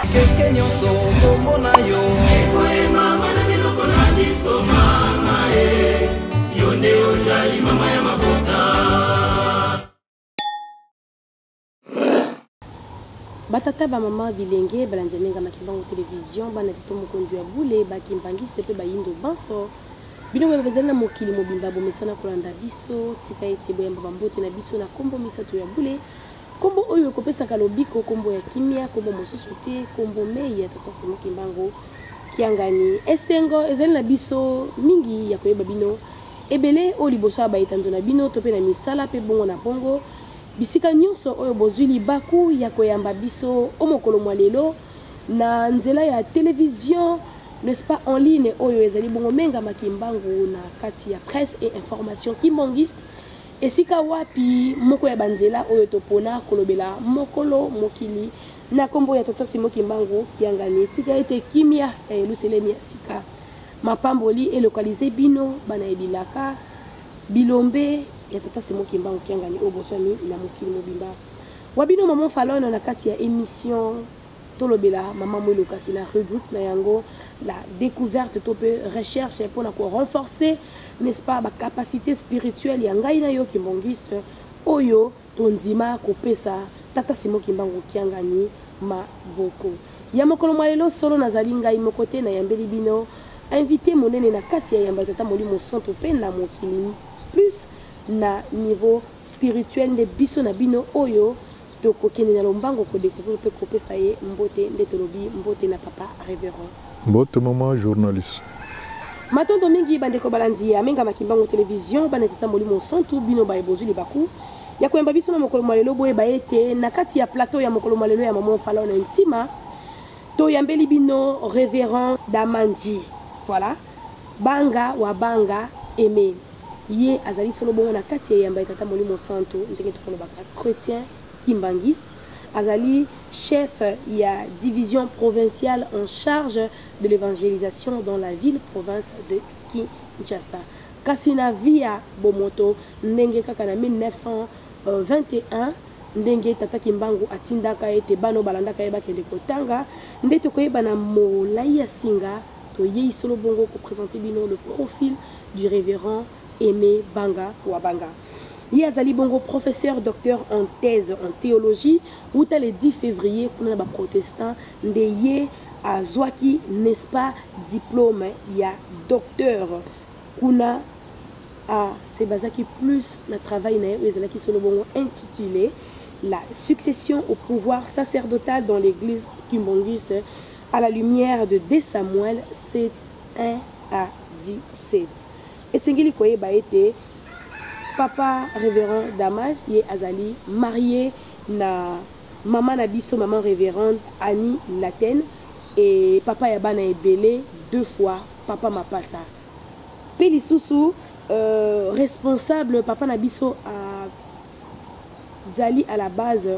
Ndenge nyonso kombo na yo ekoyemama na biloko na biso mama e yo nde ojali mama ya mabota batata bamama bilenge balandi ya menga makimbango televizio bana lito mokonzi ya bule bakimbangiste mpe bayindo banso bino boye bazali na mokili mobimba bomesana kolanda biso tika ete boyamba bambote na biso na nkombo misato ya bule Kombo oyo ekopesaka lobiko, kombo ya kimia, kombo mosusu te, kombo mei ya Tata Simon Kimbangu Kiangani. Esengo ezali na biso mingi ya koyeba bino ebele oyo liboso ya baetando na bino to mpe na misala mpe bongo na bongo bisika nyonso oyo bozwi libaku ya koyamba biso o mokolo mwa lelo na nzela ya televizio n'est-ce pas en ligne oyo ezali bongo menga makimbangu na kati ya presse et information kimbangiste Esika wapi moko ya banzela oyo topona kolobela mokolo mokili na kombo ya Tata Simon Kimbangu Kiangani. Tika ete kimia ya Yelusalemi ya sika mapamboli elokalize bino bana ya bilaka bilombe ya Tata Simon Kimbangu Kiangani oyo boswami na mokili mobimba. Wabino maman Falona na kati ya emission tolobela mama mwilo kasi na rubrique na yango la découverte to mpe recherche mpo na korenforcer n'est-ce pas bacapacité spirituelle ya ngai na yo kimbongiste oyo tondima kopesa tata simo kimbangu kiangani maboko ya mokolo mwa lelo solo nazali ngai moko te nayambeli bino invité monene na kati ya yamba tata molimo santo mpe na mokili plus na niveau spirituel nde biso na bino oyo Tokokende na lombango ko decouvrir mpe kopesa ye mbote nde tolobi mbote na papa reverend. Mbote maman journaliste. Matondo mingi bandeko balandi ya Amengama Kimbangu Television, bana tata Molimo Mosantu, bino baye bozwi libaku ya koyamba biso na mokolo mwa lelo, boyeba ete na kati ya plateau ya mokolo mwa lelo ya Maman Falone Ntima toyambeli bino Reverend Damanji. Voilà. Banga wa banga aime ye azali solo bongo na kati ya eyamba ya tata molimo santo ndenge tokolobaka chretien kimbanguiste azali chef ya division provinciale en charge de l'évangélisation dans la ville province de Kinshasa kasi na vie ya bomoto ndenge kaka na 1921 ndenge tata kimbangu atindaka ete bana balandaka ye bakende kotanga nde tokoyeba na molai ya singa Toyei solo bongo ko presenter bino le profil du Reverend Aime Banga Wabanga. Ye azali bongo professeur docteur en thèse en théologie wuta le 10 février kuna na ba protestants nde ye azwaki n'est-ce pas diplôme ya docteur kuna a se basaki plus na travail na ye oyo ezalaki solo bongo intitulé la succession au pouvoir sacerdotal dans l'église kimbonguiste A la lumière de 2 Samuel 7, 1 à 17. Esengeli koyeba ete papa révérend Damage ye azali marié na mama na biso maman révérende Annie Latene et papa ya bana ebele deux fois papa mapasa mpe lisusu euh, responsable papa na biso a ezali à la base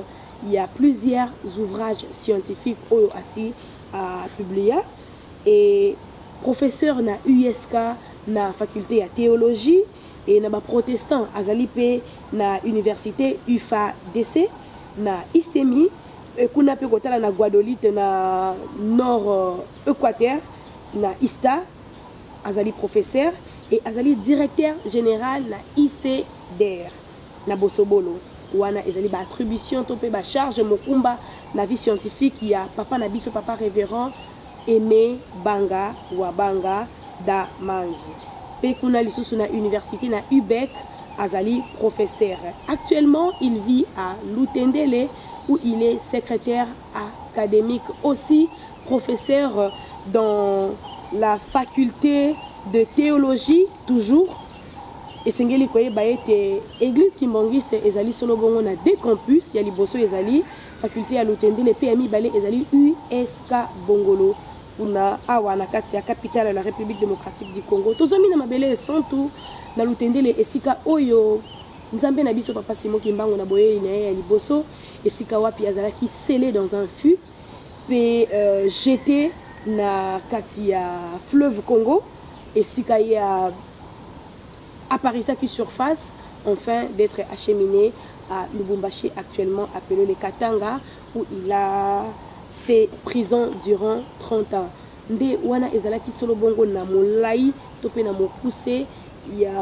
ya plusieurs ouvrages scientifiques oyo asi a publia et professeur na USK na faculté ya théologie et na ba protestants azali pe na université UFADC na Istemi et kuna pe kotala na Guadolite na nord euh, Équateur na Ista azali professeur et azali directeur général na ICDR na bosobolo wana ezali ba attribution to mpe ba charge mokumba na vie scientifique ya papa na biso papa révérend aimé banga wa banga da mangi mpe kuna lisusu na université na ubec azali professeur actuellement il vit à lutendele où il est secrétaire académique aussi professeur dans la faculté de théologie toujours esengeli koyeba ete eglise kimbangiste ezali solo bongo na deux campus ya liboso ezali faculte ya lutendele mpe ya mibale ezali usk bongolo kuna awa na kati ya capitale ya la république démocratique du congo tozwami na mabele esantu na lutendele esika oyo nzambe na biso papa simo kimbangu na boyei na ye ya liboso esika wapi azalaki sele dans un fut mpe jete na kati ya fleuve Congo esika ye apparisaki surface enfin d'etre achemine à Lubumbashi actuellement appele le Katanga où il a fait prison durant 30 ans. Nde wana ezalaki solo bongo na molayi to pe na mokuse ya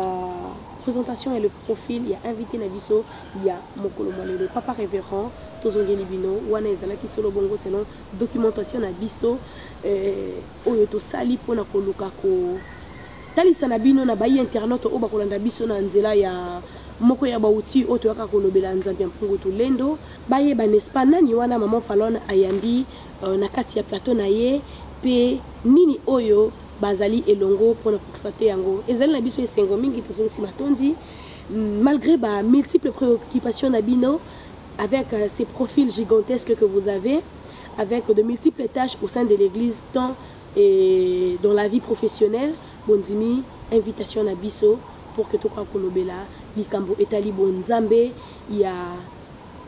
presentation ya le profil ya invite na biso ya mokolo mwa lelo papa reverend tozongeli bino wana ezalaki solo bongo selon documentation na biso eh, oyo tosali mpona koluka kotalisa na bino na bayi internaute oyo bakolanda biso na nzela ya moko ya bauti oyo toyaka kolobela nzambe ya mpungu tulendo bayeba n'est-ce pas nani wana maman falone ayambi euh, na kati ya plateau na ye mpe nini oyo bazali elongo mpo na koexploite yango ezali na biso esengo mingi tozongisi matondi mm, malgré ba multiples préoccupations na bino avec euh, ces profils gigantesques que vous avez avec de multiples tâches au sein de l'église tant et dans la vie professionnelle bondimi invitation na biso pour que tokoka kolobela likambo etali bonzambe ya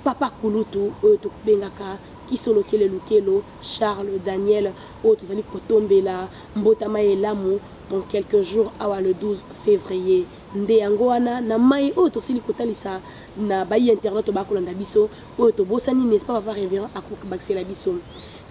Papa kulutu oyo tobengaka kisolokele lukelo Charles Daniel oyo tozali kotombela mbotama ya elamu dans quelques jours awa le 12 février nde yango wana na mai oyo tosili kotalisa na bayi internet oyo bakolanda biso oyo tobosani n'est-ce pas papa révérend akobakisela biso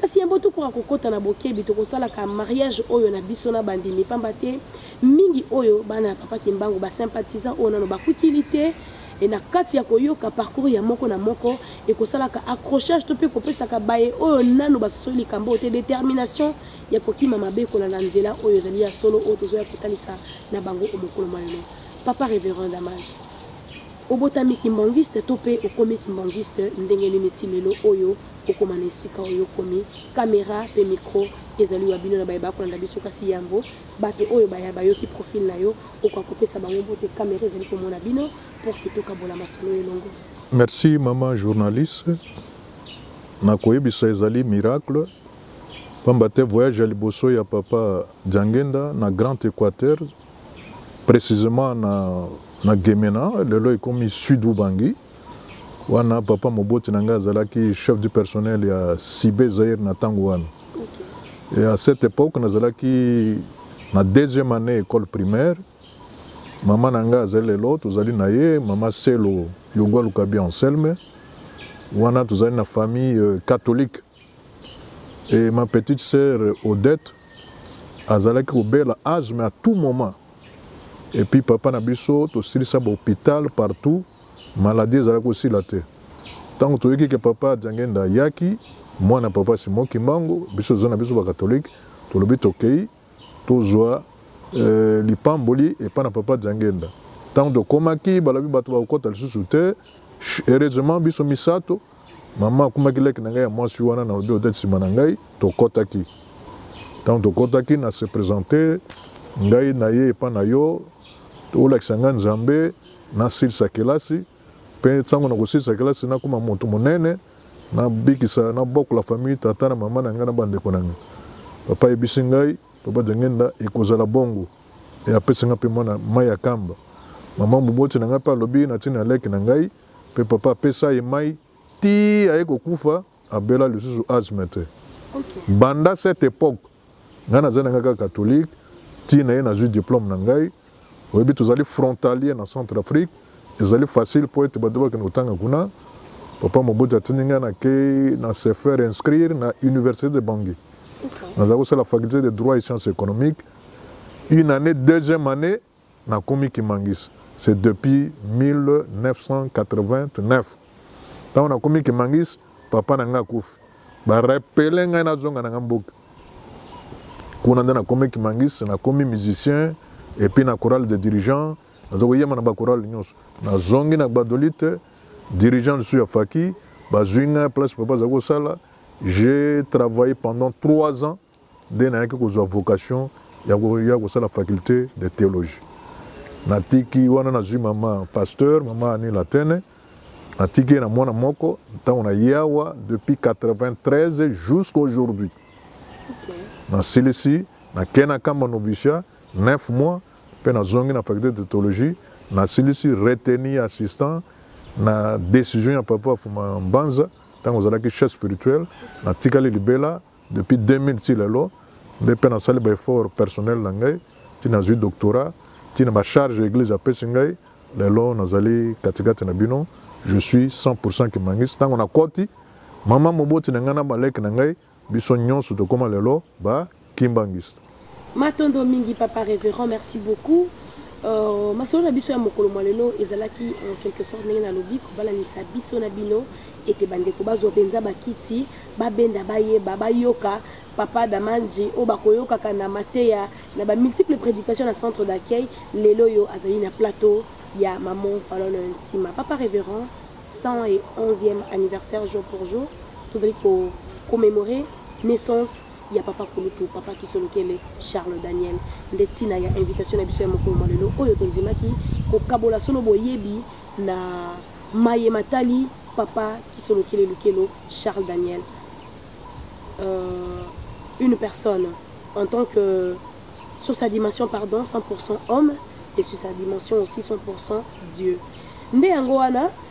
kasi yambo tokoka kokɔta na bokebi tokosalaka mariage oyo na biso na bandimi mpamba te mingi oyo bana ya papa kimbangu basympathisant oyo nano bakukili te e na kati ya koyoka parcours ya moko na moko ekosalaka accrochage to mpe kopesaka baye oyo nano basosoli likambo oyo te détermination ya kokima mabe kolanda nzela oyo ezali ya solo oyo tozoya kotalisa na bango o mokolo mwa lelo papa révérend damage obotami kimbangiste to mpe okomi kimbangiste ndenge nini ti lelo oyo okoma na esika oyo okomi kamera mpe mikro ezali wa bino na baye bakolanda biso kasi yambo Bato oyo baya bayoki profil na yo, okoka kopesa bango mbote, camera ezali komona bino pour que tokabola masolo elongo. Merci maman journaliste. Na koyebisa ezali miracle pamba te voyage ya liboso ya papa Diangenda na Grand Equateur précisément na na Gemena lelo ekomi Sud Ubangi. wana papa moboti na ngai azalaki chef du personnel ya sibe zaire na ntango wana okay. et à cette époque nazalaki na deuxième année école primaire mama na ngai azali lelo tozali na ye mama selo yogwa lukabi anselme wana tozali na famille euh, catholique et ma petite sœur Odette azalaki kobela asthme à tout moment et puis papa na biso tosilisa ba hôpital partout maladie ezalaki kosila te ntango toyoki ke papa Diangenda ayaki mwana papa Simon Kimbangu biso zo na biso ba catholique tolobi tokei tozwa eh, lipamboli epai na papa jangenda ntango tokomaki balobi bato bakokɔta lisusu te heureusement biso misato mama akumaki leki na ngai ya mwasi wana na lobi odete nsima na ngai tokɔtaki ntango tokɔtaki na se présente ngai na ye epai na yo olakisa ngai nzambe nasilisa kelasi Mpe ntango nakosilisa kelasi, nakoma moto monene, nabikisa, nabokola famille, tata na mama na ngai na bandeko na ngai. Papa ayebisi ngai, Papa Diangenda, ekozala bongo. E, apesi ngai mpe mwana mai ya kamba. Mama moboti na ngai mpe alobi, natindi na leki na ngai, mpe papa apesa ye mai tii aye kokufa. abela lisusu asme te banda cette époque ngai naza na ngai kaka catholique ti na ye nazwi diplôme na ngai oyebi tozali frontalier na centre afrique ezali facile mpo ete bato bakende kotanga kuna papa mobutu atindi ngai nakei na se faire inscrire na université de bangui nazali kosala faculté de droit et sciences économiques une année deuxième année Nakomi Kimangis c'est depuis 1989. Tango nakomi Kimangis, papa na ngai akufi. Ba rappeler ngai nazonga na ngai mboka. Kuna nde nakomi Kimangis, nakomi musicien et puis na chorale de dirigeants, nazo koyema na ba chorale nyonso. Nazongi na Gbadolite, dirigeant lisusu ya Faki, bazwi ngai place papa azali kosala. J'ai travaillé pendant trois ans nde nayaki kozwa vocation ya koya kosala faculte de theologie natiki wana nazwi mama pasteur mama ani latene natiki ye na mwana moko ntango naye awa depuis 93 jusqu'à aujourd'hui okay. nasilisi nakei na kamba novicia 9 mois mpe nazongi na faculte de theologie nasilisi reteni assistant na décision ya papa afuma mbanza ntango ozalaki chef spirituel natikali libela depuis 2000 ti lelo nde mpe nasali baeffort personnel na ngai ti nazwi doctorat ti na bacharge eglise apesi ngai lelo nazali katikati na bino je suis 100 kimangisi ntango nakoti mama moboti na ngai na baleki na ngai biso nyonso tokóma lelo bakimbangiste matondo mingi papa révérend merci beaucoup uh, masolo na biso ya mokolo mwa lelo ezalaki en quelque sorte ndenge nalobi kobalanisa biso na bino ete bandeko bazwa mpenza bakiti babenda bayeba bayoka papa damanji oyo bakoyokaka na mateya na bamultiple prédication na centre d'accueil lelo oyo azali na plateau ya maman falona ntima papa révérend 111e anniversaire jour pour jour tozali ko commémorer naissance ya papa kulutu papa kisolokele charles daniel nde ntina ya invitation na biso ya mokolo mwa lelo oyo tondimaki kokabola solo boyebi na maye matali papa kisolokele lukelo charles daniel euh, une personne en tant que sur sa dimension pardon 100% homme et sur sa dimension aussi 100% dieu nde yango wana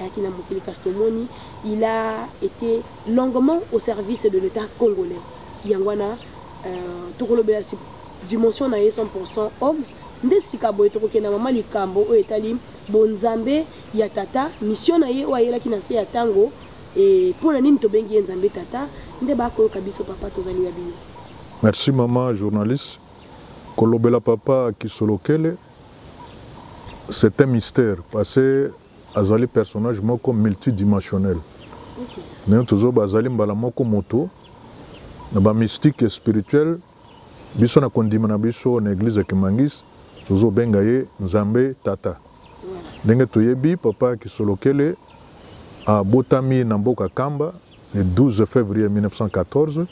ayaki na mokili kasi tomoni il a été longuement au service de l'état congolais yango wana euh, tokolobela dimension na ye 100 homme nde sika boye tokokenda mama likambo oyo etali bonzambe ya tata misio na ye oyo ayelaki na se ya ntango e, mpo na nini tobengi ye nzambe tata nde bakoyoka biso papa tozali ya bino merci mama journaliste kolobela papa kisolokele c'est un mystère parce que azali personnage moko multidimensionnel okay. nayo tozoba azali mbala moko moto na bamystique spirituel biso na kondima na biso na eglise ya kimangis tozobenga ye nzambe tata ndenge toyebi papa kisolokele abotami na mboka kamba le 12 fevrier 1914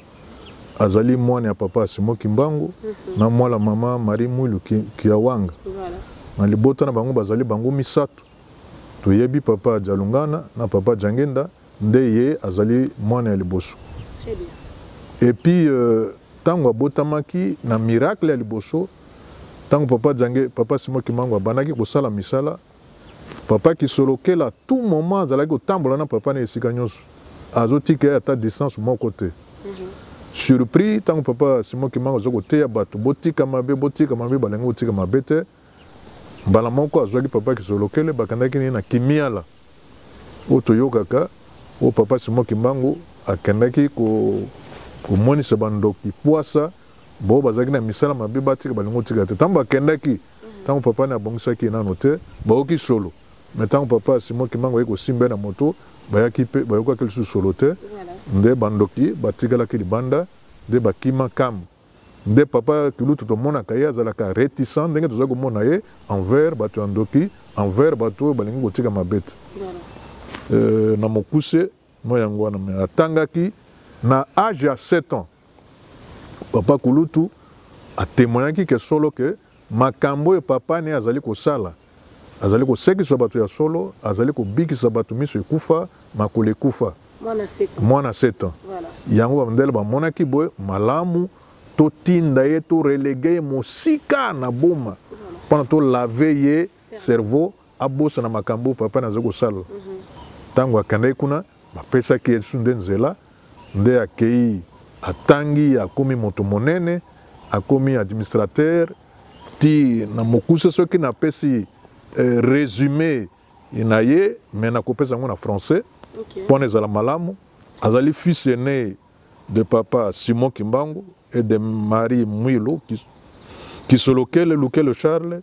azali mwana ya papa simo kimbangu mm -hmm. na mwala mama marie mwilu kiawanga voilà. na libota na bango bazali bango misato toyebi papa jalungana na papa jangenda nde ye azali mwana ya liboso epuis ntango euh, abotamaki na miracle ya liboso ntango papa jange papa simo kimbangu abandaki kosala misala papa kisolokela tout moment azalaki kotambola na papa na esika nyonso azotika ye ata distance moko te mhm. surpris ntango papa simon kimanga aza koteya bato botika mabe botika mabe balingi kotika mabe te mbala moko azwaki papa kisolokele bakendaki naye na kimiala oyo toyokaka oyo papa simon kimbangu akendaki komonisa bandoki pwasa bo bazalaki na misala mabe batika balingi kotika te ntango bakendaki Tango papa ne abongisaki ye nanu te, bayoki solo. Mais tango papa ya Simon Kimbangu aye kosimba ye na moto, bayaki mpe bayokaki lisusu solo te. Nde ba ndoki batikalaki libanda, nde bakima kam. Nde papa Kulutu tomonaka ye azalaka reticent ndenge tozali komona ye envers bato ya ndoki, envers bato oyo balingi kotika mabe te. Euh, na mokuse, no yango wana. Mais atangaki na age ya sept ans. Papa Kulutu a temoignaki ke solo ke makambo oyo papa ne azali kosala azali kosekisa bato ya solo, azali kobikisa bato miso ekufa, makolo ekufa. Mwana 7 ans. Yango bamdele bamonaki boye malamu totinda ye to relege ye mosika na boma mpona to lave ye cerveau abosana makambo papa naza kosala ntango mhm. akendaki kuna bapesaki ye lisusu nde nzela nde akei atangi akomi moto monene akomi administrateur ti na mokuse soki napesi eh, résumé na ye me nakopesa yango na français okay. mpona ezala malamu azali fils aîné de papa simon kimbangu et de marie mwilu kisolokele lukele charles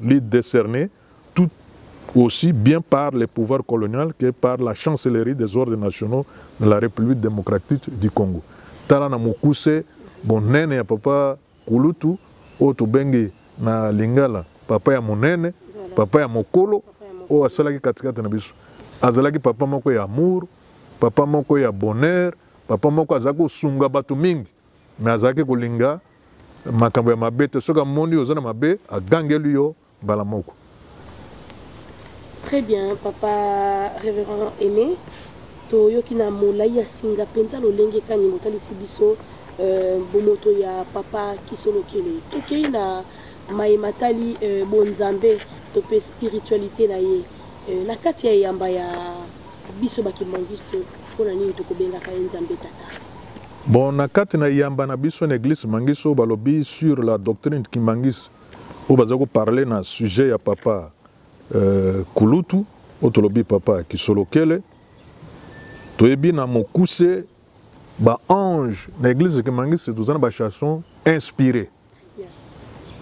li decerner tout aussi bien par les pouvoirs colonial que par la chancellerie des ordres nationaux de la République démocratique du Congo. Tala na mokuse bonene ya papa Kulutu oyo tobengi na lingala papa ya monene, papa ya mokolo oyo asalaki katikati na biso. Azalaki papa moko ya amour, papa moko ya bonheur, papa moko azalaki kosunga bato mingi. mais azalaki kolinga makambo ya mabe te soki amoni oza na mabe agangeli yo mbala moko très bien papa révérend aimé toyoki na molai ya singa mpenza lolenge kani botalisi biso euh, bomoto ya papa kisolokele tokei na maye matali euh, bonzambe to mpe spiritualité na ye euh, na kati ya eyamba ya biso bakimangiste mpo na nini tokobengaka ye nzambe tata Bon, na kati na yamba na biso na eglise Mangiso balobi sur la doctrine Kimbangis oyo baza ko parler na sujet ya papa euh, Kulutu oyo tolobi papa Kisolokele toyebi na mokuse ba ange na eglise Kimbangis toza na ba chanson inspiré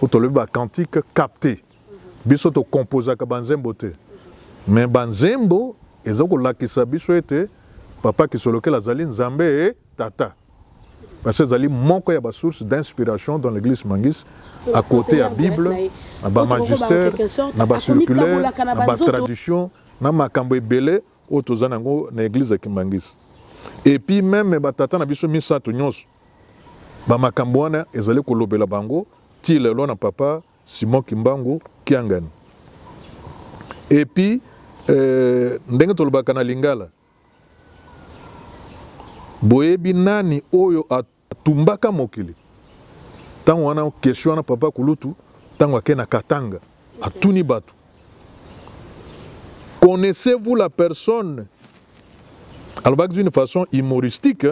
oyo tolobi ba cantique capté biso to composaka banzembo te me banzembo eza kolakisa biso ete papa kisolokela azali nzambe tata parce que ezali moko ya basource d'inspiration dans l'église mangis à côté ya bible na bamagister na bacirculaire na batradition na makambo ebele oyo toza na yango na église ya kimangisi epuis meme batata na biso misato nyonso bamakambo wana ezali kolobela bango ti lelo na papa Simon Kimbangu Kiangani. Et puis, euh, ndenge tolobaka na lingala boyebi nani oyo atumbaka mokili ntango wana kestion wana papa kulutu ntango ake na katanga atuni bato connaissez-vous la personne alobaki d'une façon humoristique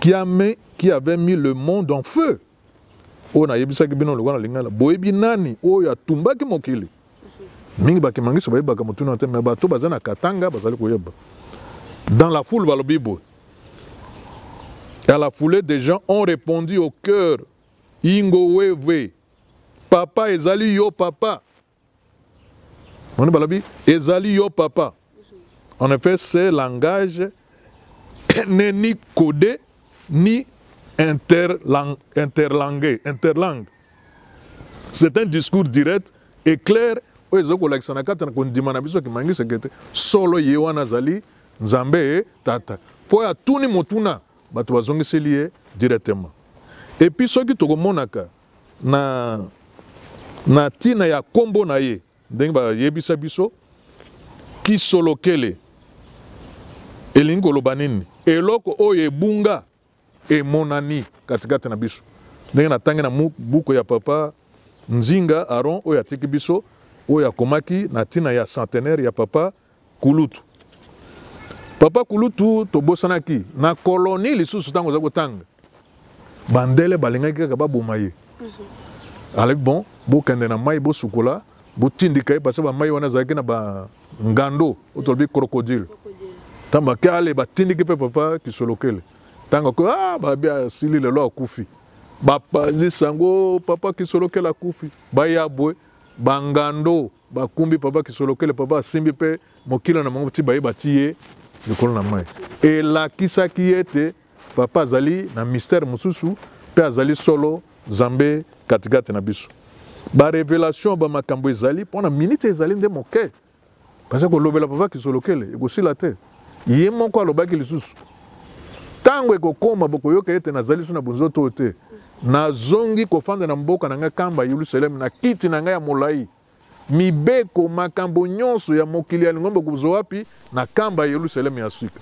qui, a mis, qui avait mis le monde en feu oyo nayebisaki bino lokola na lingala boyebi nani oyo atumbaki mokili mingi bakimangisi bayebaka motuna te me bato baza na katanga bazali koyeba dans la foule balobi boye à la foule des gens ont répondu au cœur ingo wewe papa ezali yo papa moni balobi ezali yo papa en effet ce langage n'est ni codé ni interlang interlangue interlangue c'est un discours direct et clair oyo ezali kolakisa na kati na kondima na biso kimangiseke te solo ye wana azali nzambe ye tata mpo atuni motuna bato bazongiseli ye directement epuis soki tokomonaka na na ntina ya nkombo na ye ndenge bayebisa biso kisolokele elingi koloba nini eloko oyo ebunga emonani katikati na biso ndenge natangi na buku ya papa nzinga aron oyo atiki biso oyo akomaki na ntina ya centenaire ya papa kulutu papa kulutu tobosanaki na koloni lisusu ntango oza kotanga bandele balingaki kaka baboma ye mhm. alobi bon bokende na mai bosukola botindika ye parce bamai wana ezalaki na bangando oyo tolobi crocodile ntango bake ale batindiki mpe papa kisolokele ntango ako ah, babi asili lelo akufi bapanzisa yango papa kisolokele akufi baya bwe bangando bakumbi papa kisolokele papa asimbi mpe mokila na bango ti baye batii ye likolo na mai elakisaki ye ete papa azali na mistere mosusu mpe azali solo nzambe katikati na biso barevelation bamakambo ezali mpo na minite ezali nde moke baza kolobela papa kisolokele ekosila te Ye moko alobaki lisusu, ntango ekokoma bokoyoka ete nazali lisusu na bonzoto oyo te, nazongi kofanda na mboka na ngai kamba Yelusaleme na kiti na ngai ya molai. Mibeko, makambo nyonso ya mokili ya lingomba kozwa wapi? Na kamba ya Yelusaleme ya sika.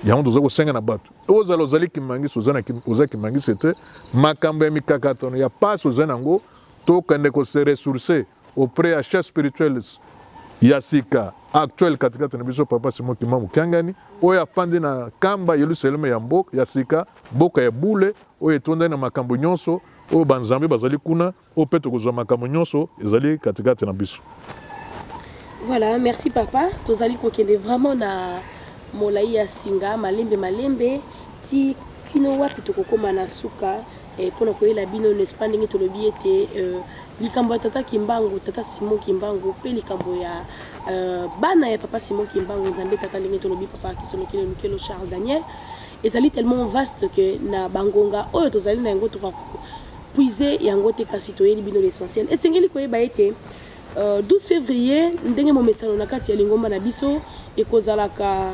yango toza kosenga na bato ozala ozali kimangisi oza kimangisi te makambo ya mikakatano ya pasi oza na yango tokende kose ressource auprès ya chef spirituels ya sika actuel katikati na biso papa simo kima mokiangani oyo afandi na kamba yelusaleme ya mboka ya sika mboka ya bule oyo etondani na makambo nyonso oyo banzambe bazali kuna oyo mpe tokozwa makambo nyonso ezali katikati na biso voilà merci papa tozali kokende vraiment na molai ya singa malembe malembe ti kino wapi tokokóma na suka Eh, mpo na koyela bino n'est-ce pas ndenge tolobi ete euh, likambo ya tata kimbangu tata simon kimbangu mpe likambo ya euh, bana ya papa simon kimbangu nzambe tata ndenge tolobi papa kisonokele lukelo charles daniel ezali tellement vaste que na bangonga oyo tozali na yango toka puise yango te kasi toyeli bino l'essentiel esengeli koyeba ete 12 euh, février ndenge momesano na kati ya lingomba na biso ekozalaka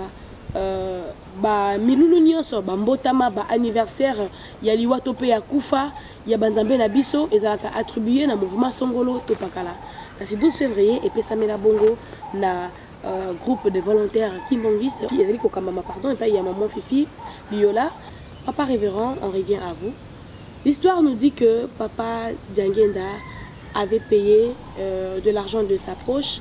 ba milulu nyonso ba mbotama ba anniversaire ya liwa to pe ya kufa ya banzambe na biso ezalaka attribuer na mouvement songolo to pakala kasi 12 février epesamela bongo na euh, groupe de volontaires kimbonguiste ezali kokambama pardon epai ya maman fifi liola papa révérend on revient à vous l'histoire nous dit que papa diangenda avait payé euh, de l'argent de sa poche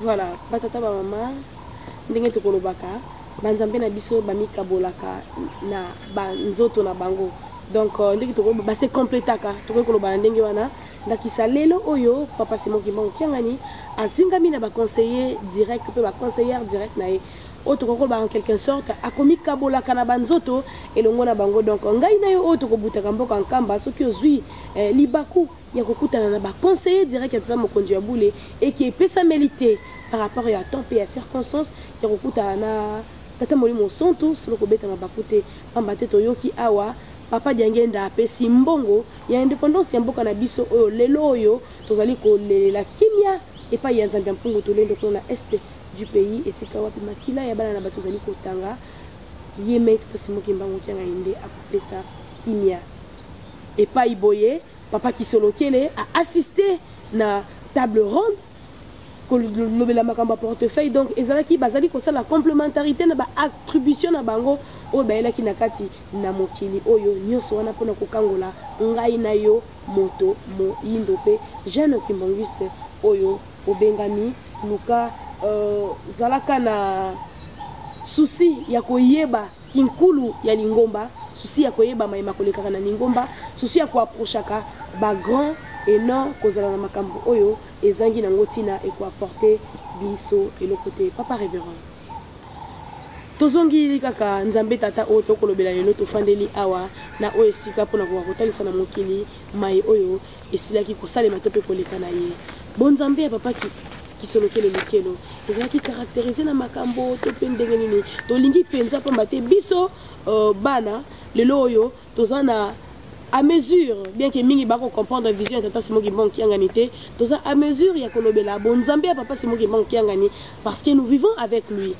Voilà, batata ba mama ndenge tokolobaka banzambe na biso bamikabolaka na banzoto na bango donc euh, ndenge tokoki base completaka tokoki koloba na ndenge wana ndakisa lelo oyo papa simon kimbangu kiangani azingami na baconseiller direct mpe baconseillere direct na ye oyo tokoki koloba en quelque sorte akomikabolaka na banzoto elongo na bango donc ngai na yo oyo tokobutaka mboka nkamba soki ozwi eh, libaku ya kokutana na ba conseiller direct ya tata mokonzi ya bule eki epesameli te par rapport ya temps mpe ya circonstance ya kokutana na tata molimo mosantu solo kobeta mabaku te mpamba te toyoki awa papa diangenda apesi mbongo ya independance ya mboka na biso oyo lelo oyo tozali kolelela kimia epai ya nzambe ya mpungu tolendo kuna na este du pays esika wapi makila ya bana na bato ezali kotanga ye mei tata simoki mbango kianga ye nde akopesa kimia epai boye Papa Kisolokele a assisté na table ronde kolobela makambo ya portefeuille donc ezalaki bazali kosala complementarité na baattribution na bango oyo bayelaki na kati na mokili oyo nyonso wana mpona kokangola ngai na yo moto moyindo mpe jeune kimbonguiste oyo obengami luka euh, zalaka na souci ya koyeba kinkulu ya lingomba susi ya koyeba mayema kolekaka na lingomba susi ya koaprochaka bagrand e non kozala na makambo oyo ezangi nango ntina ekoaporte biso eloko te papa reverend tozongili kaka nzambe tata oyo tokolobela lelo tofandeli awa na oyo esika mpo na koka kotalisa na mokili mai oyo esilaki kosalema to mpe koleka na ye bonzambe ya papa kisolokele lokelo ezalaki karakterize na makambo to mpe ndenge nini tolingi mpenza mpamba te biso uh, bana lelo oyo toza na à mesure bien que mingi bako comprendre vision ya tata simo kimbangu kiangani te toza à mesure ya kolobela bonzambe ya papa simo kimbangu kiangani parce que nous vivons avec lui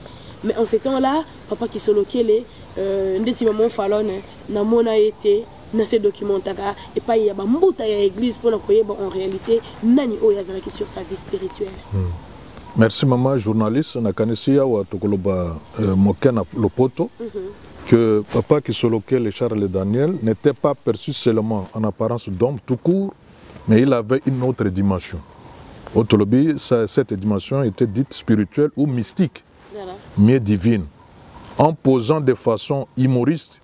mais en ce temps là papa kisolokele euh, ndeti maman falone namona ye te na se documentaka epai ya bambuta ya eglise mpona koyeba en réalité nani oyo azalaki sur sa vie spirituelle hmm. merci mama journaliste nakanisi awa tokoloba euh, moke na lopoto mm -hmm. que Papa Kisolokel et Charles Daniel n'étaient pas perçus seulement en apparence d'homme tout court, mais il avait une autre dimension. Au Tolobi, cette dimension était dite spirituelle ou mystique, mais divine, en posant de façon humoriste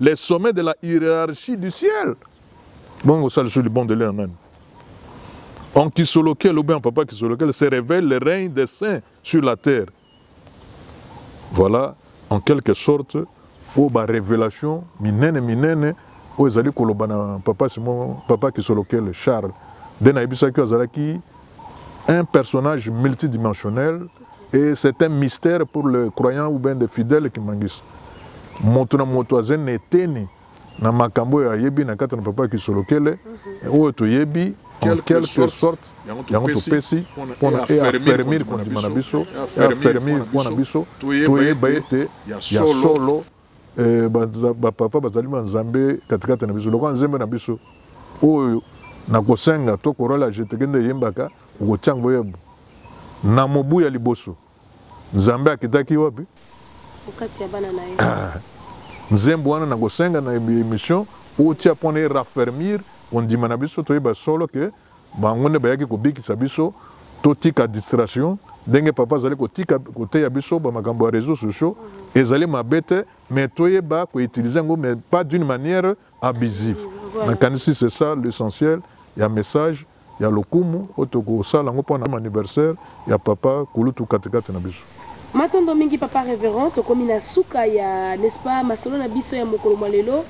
les sommets de la hiérarchie du ciel bongo osali so libondeli na nani en kisolokel ou bien en papa kisolokel se révèle le règne des saints sur la terre voilà en quelque sorte oyo barévélation minene minene oyo ezali koloba na papa simo papa kisolokele charles nde nayebisaki oyo azalaki un personnage multidimensionnel et c'est un mystère pour le croyant ou bien de fidèle kimangisi moto na moto aza na eteni na makambo oyo ayebi na kati na papa kisolokele mhm. oyo toyebi en quelque sorte yango topesi mpona eafermir kondima na biso eafermir foi na biso toyeba ete ya solo eh, bapapa bazali banzambe katikati na biso lokola nzembe na biso oyo nakosenga to korola jeteke nde eyembaka okotya yango yebo na mobu ya liboso nzambe akitaki wapi ah, nzembo wana nakosenga na emission otya mpona erafermir kondima na biso toyeba solo ke Bango nde bayaki kobikisa biso totika distraction ndenge papa azali kotika koteya biso ba makambo ya réseaux sociaux ezali mabe te mais toyeba koutilize yango mais pas d'une manière abusive nakanisi c'est ça l'essentiel ya message ya lokumu oyo tokosala yango mpo na anniversaire ya papa kulutu katikati na biso Matondo mingi papa reverend tokomi na suka ya n'est-ce pas masolo na biso ya mokolo mwa lelo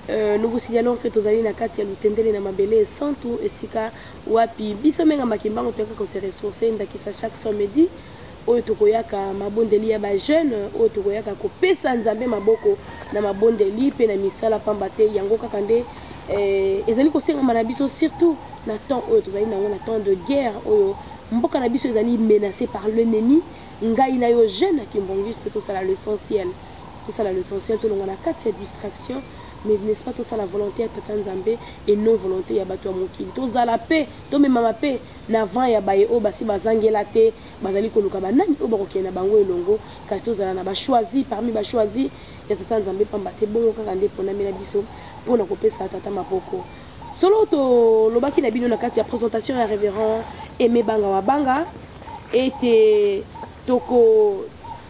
euh, nous vous signalons que tozali na kati ya lutendele na mabele esantu esika wapi biso menga makimbango toyaka kose ressource ndakisa chaque samedi oyo tokoyaka mabondeli ya bajeune oyo tokoyaka kopesa nzambe maboko na mabondeli mpe na misala pamba te yango kaka nde eh, ezali kosengama na biso surtout na temps oyo tozali nango na temps de guerre oyo Mboka na biso ezali menace par l'ennemi, ngai na yo jeune ya kimbongiste tosala l'essentiel. Tosala l'essentiel tolongwa na kati ya distraction mais n'est-ce pas tosala volonté ya tata Nzambe et non volonté ya bato ya mokili. Tozala pe, tomemama pe na vent ya baye oyo basi bazangela te, bazali koluka ba nani oyo bakokende na bango elongo kasi tozala na ba choisis parmi ba choisis ya tata Nzambe pamba te bongo kaka nde eponami na biso po na kopesa tata maboko. Solo tolobaki na bino na kati ya presentation ya Reverend Aimé Banga wa Banga ete toko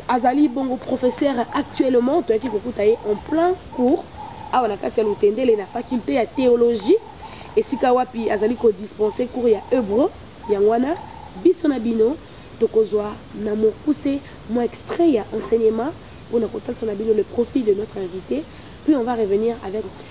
azali bongo professeur actuellement toyaki kokuta ye en plein cours awa na kati ya Lutendele na faculté ya théologie esika wapi azali kodispense cours ya Hebreu yango wana biso na bino tokozwa na mokuse mwa extrait ya enseignement mpona kotalisa na bino le profil de notre invité puis on va revenir avec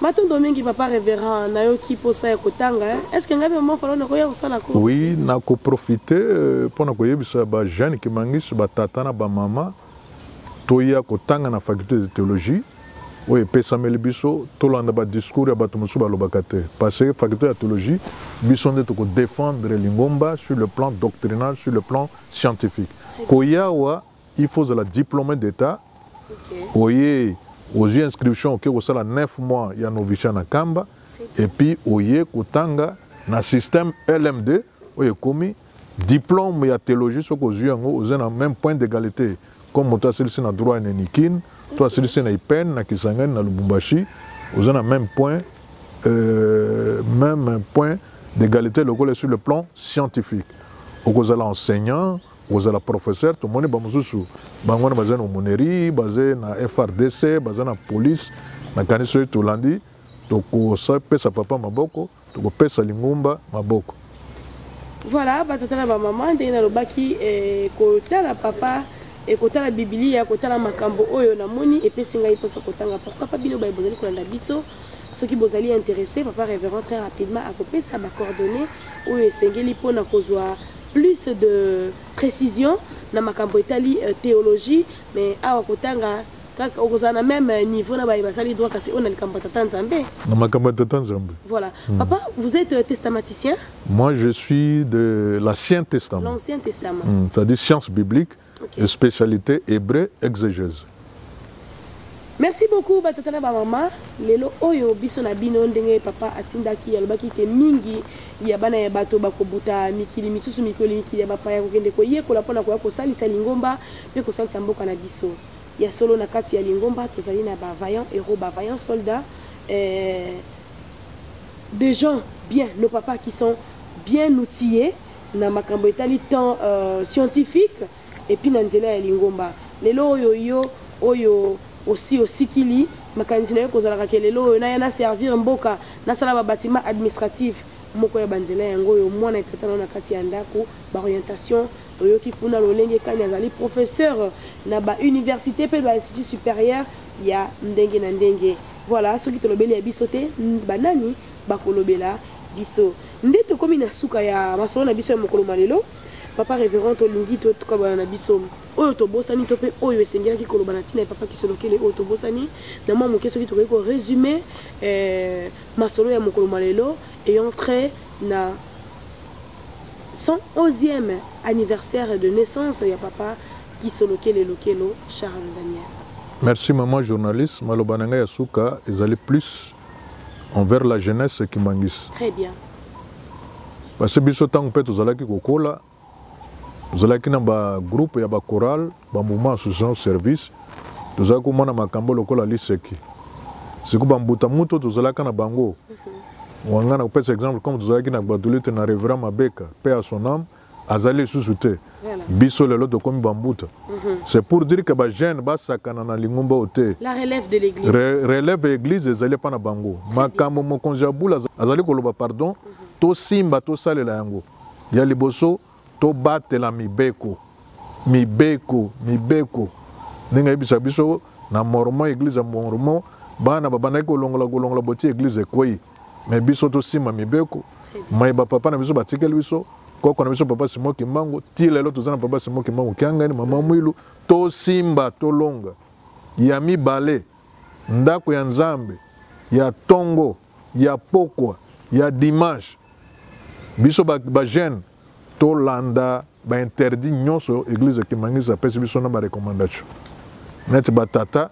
Matondo mingi papa reverend nayoki posa ya kotanga hein? est ce que ngai pe maman falo nakoya kosala ko oui nako profiter euh, pona koyebisa ba jeune ki mangis ba tata na ba mama toya kotanga na faculté de théologie oyo epesameli biso tolanda ba discours ya bato mosusu balobaka te parce que faculté ya théologie biso nde toko défendre lingomba sur le plan doctrinal sur le plan scientifique koyawa il faut ozala diplome d'etat okay. oye ozwi inscription oke kosala 9 mois ya novicia na kamba epuis oye kotanga na système lm2 oyo ekomi diplôme ya théologie soki ozwi yango oza na même point d'égalité comme moto asilisi na droit na nikine to asilisi na ipene na kisangani na lubumbashi oza na même point euh, même point d'égalité lokola sur le plan scientifique okozala enseignant kozala professeur tomoni bamosusu bango wana baza na omonerie baza na frdc baza na police nakanisi soki tolandi tokopesa papa maboko tokopesa lingomba maboko voilà batata na bamama ndenge nalobaki eh, kotala papa ekotala eh, bibilia kotala makambo oyo namoni epesi ngai mposa kotanga papa bino baye bozali kolanda biso soki bozali interesse papa révérend très rapidement akopesa bacoordonnées oyo esengeli mpona kozwa plus de précision na makambo etali euh, théologie mais awa kotanga kaka okozala na même euh, niveau na baye basali droit kasi oyo na likambo ya tata nzambe na makambo ya tata nzambe voilà mm. papa vous êtes euh, testamaticien moi je suis de l'ancien testament l'ancien testament mm. c'est-à-dire science biblique okay. spécialité hébreu exegèse merci beaucoup batata na bamama lelo oyo biso na bino ndenge papa atindaki alobaki te mingi ya bana ya bato bakobuta mikili misusu mikoli mikili ya bapaya kokende koyekola mpona koya kosalisa lingomba mpe kosalisa mboka na biso ya solo na kati ya lingomba tozali na bavaillant héros bavaillant soldat eh, des gens bien nos papas qui sont bien outillés na makambo etali temps euh, scientifique epuis na nzela ya lingomba lelo oyo yo oyo osi osikili makanisi na yo kozalaka ke lelo oyo naya na servir mboka nasala babatima administratif moko ya banzela yango oyo mwana etata nao na kati ya ndako baorientation toyoki kuna lolenge kani azali professeur na bauniversité mpe bainstitut supérieur ya ndenge na ndenge voilà soki tolobeli ya biso te banani bakolobela biso Nde tokomi na suka ya masolo na biso ya mokolo ma lelo. Papa Reverend, tolingi toyoka bana na biso oyo tobosani to mpe oyo esengelaki koloba na ntina ya Papa Kisolokele oyo tobosani na mwa moke, soki tokoki ko resume eh, masolo ya mokolo ma lelo et entre na 111e anniversaire de naissance ya Papa Kisolokele Lokelo Charles Daniel. Merci maman journaliste, maloba na ngai ya suka ezali plus envers la jeunesse kimangisi très bien basi biso ntango mpe tozalaki kokola tozalaki na bagroupe ya bacorale bamouvement association service tozalaki komona makambo lokola liseki siko bambuta moto tozalaka na bango mhm. wanga na kopesa exemple comme tozalaki na gbadolite na reverend mabeka mpe ya son ame azali lisusu te biso lelo tokomi bambuta mhm. c'est pour dire que bajeune basakana na lingomba oyo te relève ya église ezali epa na bango makambo mokonzi ya bula azali koloba pardon mhm. tosimba tosalela yango ya liboso tobatela mibeko mibeko mibeko ndenge ayebisa biso na mormon église ya mormon bana babandaki kolongola kolongola boti église ekwei mais biso tosimba mibeko mayeba papa na biso batikeli biso koko na biso papa simo kimbangu ti lelo toza na papa simo kimbangu kiangani mama mwilu tosimba tolonga ya mibale ndako ya nzambe ya tongo ya pokwa ya dimanche biso bajeune ba tolanda bainterdit nyonso eglise kimangisi apesi biso na barecommandation neti batata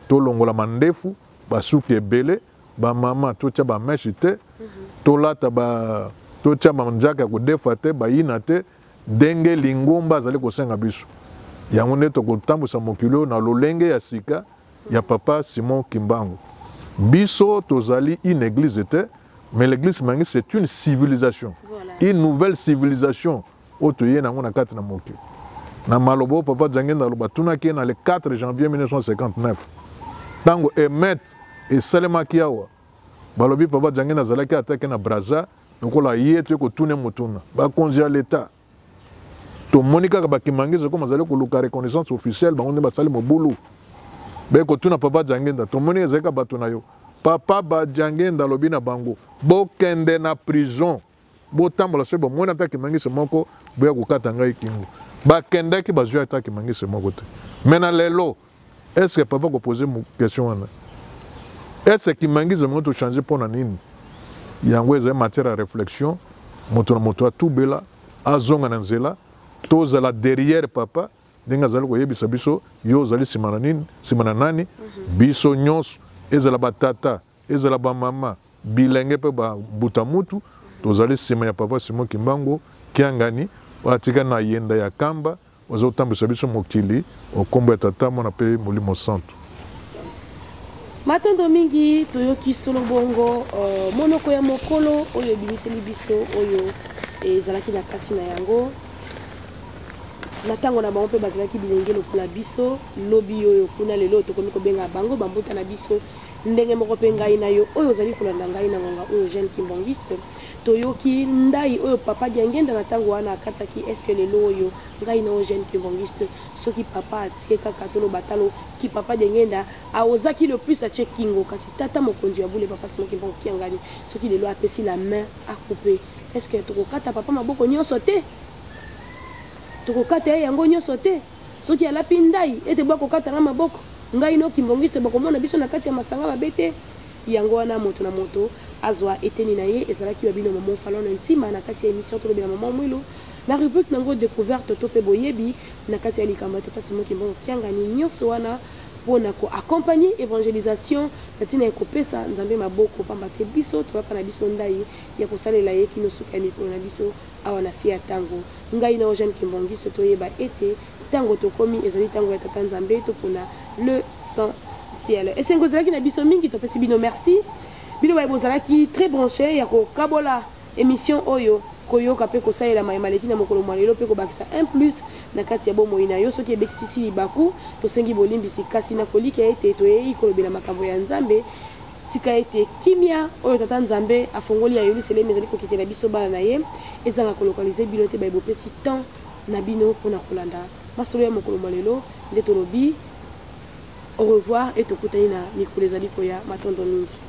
tolongola mandefu basuki ebele ba mama totia ba meshe te tolata ba totia manzaka ya kodefa te bayina te ndenge lingomba azali kosenga biso yango nde tokotambwisa mokili oyo na lolenge ya sika ya papa simon kimbangu biso tozali une église te mais l'église mangi c'est une civilisation voilà. une nouvelle civilisation oyo toye na yango na kati na mokili na maloba oyo papa jangenda aloba atunaki ye na le 4 janvier 1959 ntango emet esalemaki awa balobi papa jangenda azalaki atake na braza lokola ye toye kotune motuna bakonzi ya leta tomoni kaka bakimangisi okoma azali koluka reconnaissance officielle bango nde basali mobulu be kotuna papa jangenda tomoni ezalika bato na yo papa bajangenda alobi na bango bokende na prison botambola soki bomoni ata kimangisi moko boya kokata ngai kingo bakendaki bazwi ata kimangisi moko te mai na lelo estce papa kopose question wana estce kimangisi moko tochange mpo na nini yango ezali matière ya réflexion moto na moto atubela azonga na nzela tozala derrière papa ndenge azali koyebisa biso yo ozali nsima na nini nsima na nani mhm. biso nyonso ezala batata ezala bamama, bilenge mpe ba mbuta mutu, tozali nsima ya Papa Simon Kimbangu Kiangani oyo atika na yenda ya kamba oyo azali kotambwisa biso mokili o nkombo ya Tata, Mwana mpe Molimo Santu. Matondo mingi, toyoki solo bongo uh, monoko ya mokolo oyo ebimiseli biso oyo ezalaki na kati na yango na ntango na bango mpe bazalaki bilenge lokola biso lobi oyo kuna lelo tokomi kobenga bango bambuta na biso Ndenge moko mpe ngai na yo oyo ozali kolanda ngai na ngonga oyo jeune kimbangiste toyoki ndai oyo papa diangenda na ntango wana akataki eske lelo oyo ngai na yo jeune kimbangiste soki papa atie kaka toloba talo ki papa diangenda aozaki le plus atie kingo kasi tata mokonzi ya bule papa simo kimbangu kiangani soki lelo apesi la main akupe eske tokokata papa maboko nyonso te tokokata ye yango nyonso te Soki alapi ndayi ete boya kokata nga maboko, ngai n'o Kimbongiste bokomona biso na kati ya masanga mabe te. Yango wana moto na moto azwa eteni na ye. Ezalaki wa bino Maman Falon na Ntima na kati ya emission Tolobela Maman Mwilu na rubrique na ngo Decouverte to pe Boyebi na kati ya likambo ya Tata Simon Kimbongo Kiangani. Nionso wana po na ko accompagner evangelisation na tina ya kopesa Nzambe maboko pamba te biso toyaka na biso ndayi ya kosalela ye kino suka ya mikolo na biso. Awa na se ya ntango, ngai na Eugène Kimbongiso toyeba ete ntango tokomi ezali ntango ya Tata Nzambe, topona le Saint Ciel. Esengo ezalaki na biso mingi, topesi bino merci. Bino baye bozalaki très branche ya kokabola emission oyo koyoka mpe kosalela maye maleki na mokolo mwa lelo mpe kobakisa un plus na kati ya bomoi na yo soki ebekisisi libaku tosengi bolimbisi kasi na kolikya ete toyei kolobela makambo ya nzambe Tika ete kimia oyo Tata Nzambe afongoli ya Yeluselemi ezali kokitela biso bana na ye ezanga kolokalize bino te baye bopesi temps na bino mpo na kolanda masolo ya mokolo mwa lelo nde tolobi au revoir et tokutani na mikolo ezali koya matondo mingi